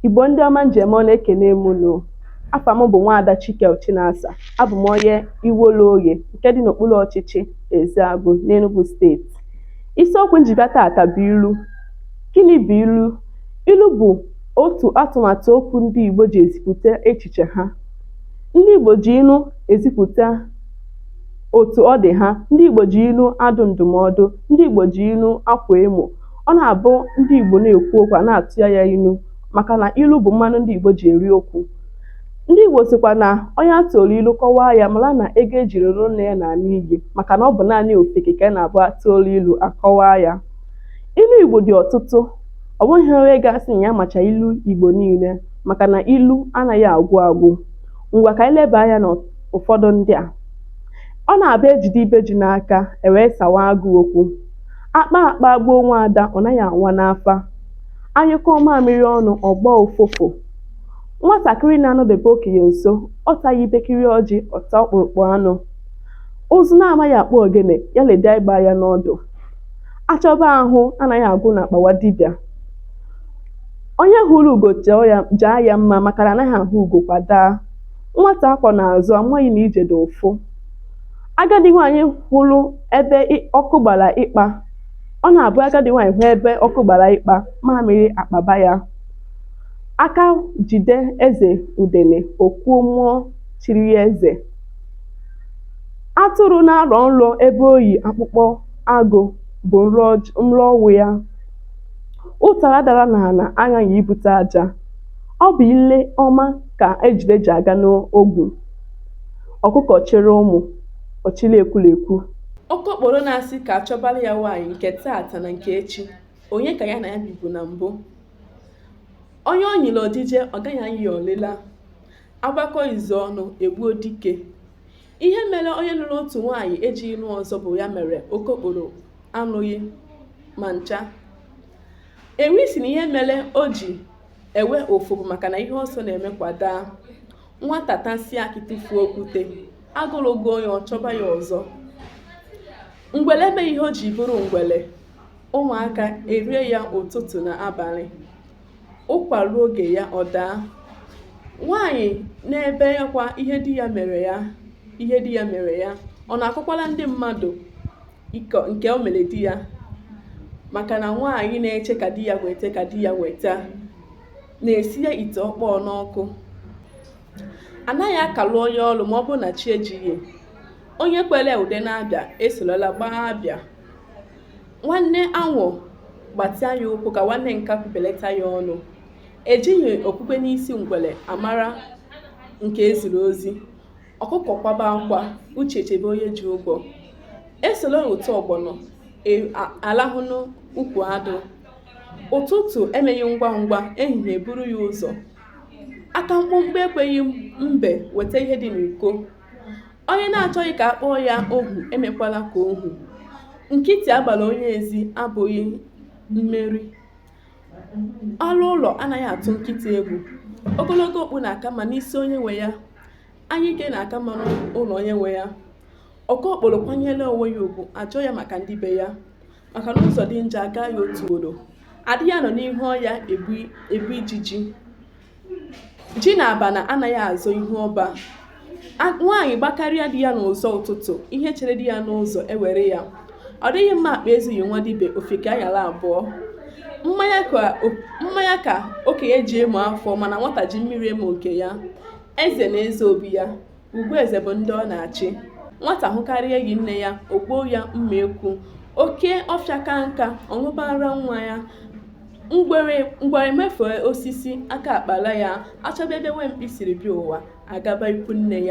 Igbo ndị ọma m ji eme ọnụ ekene m unu afa m bụ nwaada Chike Chinasa abụ m onye Iwollo Oghe nke dị n'okpuru ọchịchị Ezeagu n'Enugu steeti isiokwu m ji bịa taata bụ ilu gịnị bụ ilu ilu bụ otu atụmatụ okwu ndị Igbo ji ezipụta echiche ha ndị Igbo ji ilu ezipụta otu ọ dị ha ndị Igbo ji ilu adụ ndụmọdụ ndị Igbo ji ilu akwa emo Ọ na-abụ ndị Igbo na-ekwu okwu a na-atụ ya ilu maka na ilu bụ mmanụ ndị Igbo ji eri okwu. Ndị Igbo sịkwa na onye a tụrụ ilu kọwaa ya mara na ego e jiri lụọ nne ya lara n'iyi maka na ọ bụ naanị ofeke ka a na-abụ atụọla ilu akọwaa ya. Ilu Igbo dị ọtụtụ, ọ bụghị onye ga-asị na ya macha ilu Igbo niile maka na ilu anaghị agwụ agwụ. Ngwa ka anyị leba anya n'ụfọdụ ndị a. Ọ na-abụ e jide ibe ji n'aka, e wee sawa agụụ okwu. A kpaa akpa gbuo nwa ada, ọ naghị anwa n'afa. A nyụkọọ mamịrị ọnụ, ọ gbaa ụfụfụ. Nwatakịrị na-anọdebe okenye nso, ọ taghị ibekiri ọjị, ọ taa ọkpụrụkpụ anụ. Ụzụ na-amaghị akpụ ogene, ya lebe egbe anya n'ọdụ. A chọba ahụ anaghị agwụ n'akpa nwa dibịa. Onye hụrụ ugo jaa ya mma maka na anaghị ahụ ugo kwa daa. Nwata a kwọ n'azụ amaghị na ije dị ụfụ. Agadi nwaanyị hụrụ ebe ọkụ gbara ịkpa. Ọ na-abụ agadi nwaanyị hụ ebe ọkụ gbara ịkpa, mamịrị akpaba ya. Aka jide eze udele, o kwuo mmụọ chiri ya eze. Atụrụ na-arọ nrọ ebe o yi akpụkpọ agụ bụ nrọ ọnwụ ya. Ụtara dara n'ala aghaghị ibute aja. Ọ bụ ile ọma ka ejule ji aga n'ogwu. Ọkụkọ chịrị ụmụ, ọ chịla ekwulekwu. Okokporo na-asị ka a chọbara ya nwaanyị nke taata na nke echi, onye ka ya na ya bibu na mbụ. Onye ọ nyịrị ojije, ọ gaghị anyị ya ọlịla. A gbakọọ izu ọnụ, e gbuo dike. Ihe mere onye lụrụ otu nwaanyị ejighị lụọ ọzọ bụ ya mere Okokporo anụghị ma ncha. Ewi sị na ihe mere o ji ewe ụfụ bụ maka na ihe ọsọ na-eme kwa daa. nwata tasịa akị tụfuo okwute agụrụ gụọ ya ọ chọba ya ọzọ ngwele emeghị ihe o ji bụrụ ngwele ụmụaka erie ya ụtụtụ na abalị ụkwa ruo oge ya ọ daa nwaanyị na-ebekwa ihe di ihe di ya mere ya ọ na-akọkwala ndị mmadụ nke o mere di ya maka na nwaanyị na-eche ka di ya weta ka di ya weta na-esinye ite ọkpọọ n'ọkụ anaghị akalụ onye ọrụ ma ọ bụrụ na chi ejighị onye kwere ude n'abịa esorola gbaa abịa nwanne anwụ gbatịa ya ụkwụ ka nwanne nkakwụ belata ya ọnụ ejighị okpukpe n'isi ngwere amara nke eziri ozi ọkụkọ kwaba akwa uche echebe onye ji ụgwọ esoro ụtọ ọgbọnọ alahụ n'ukwu adụ ụtụtụ emeghị ngwa ngwa ehihie eburu ya ụzọ aka mkpụmkpụ ekweghị mbe weta ihe dị n'uko onye na-achọghị ka a kpọọ ya ohu emekwala ka ohu nkịtị agbara onye ezi abụghị mmeri ori ụlọ anaghị atụ nkịta egwu ogologo okpu na-aka mma n'isi onye nwe ya anyike na-aka mma n'ụlọ onye nwe ya okokporo kwanyere onwe ya ugwu ajụọ ya maka ndị be ya maka na ụzọ dị njọ agaa ya otu ugboro adịghị anọ n'ihu ọnya egbu ijiji ji na abana anaghị azọ ihu ọba nwaanyị gbakarịa di ya n'ụzọ ụtụtụ ihe chere di ya n'ụzọ ewere ya ọ dịghị mma akpa ezughị nwa dibịa ofeke anyala abụọ mmanya ka okenye ji emo afọ mana nwata ji mmiri emo nke ya eze na eze obi ya Ugwu eze bụ ndị ọ na-achị. Nwata hụkarịa enyi nne ya, o gbuo ya mma ekwu. Oke ọfịa kaa nka, ọ ṅụba ara nwa ya. Ngwere mafee osisi, aka akpala ya. Achọba ebe nwa mkpi siri bịa ụwa, agaba ikwu nne ya.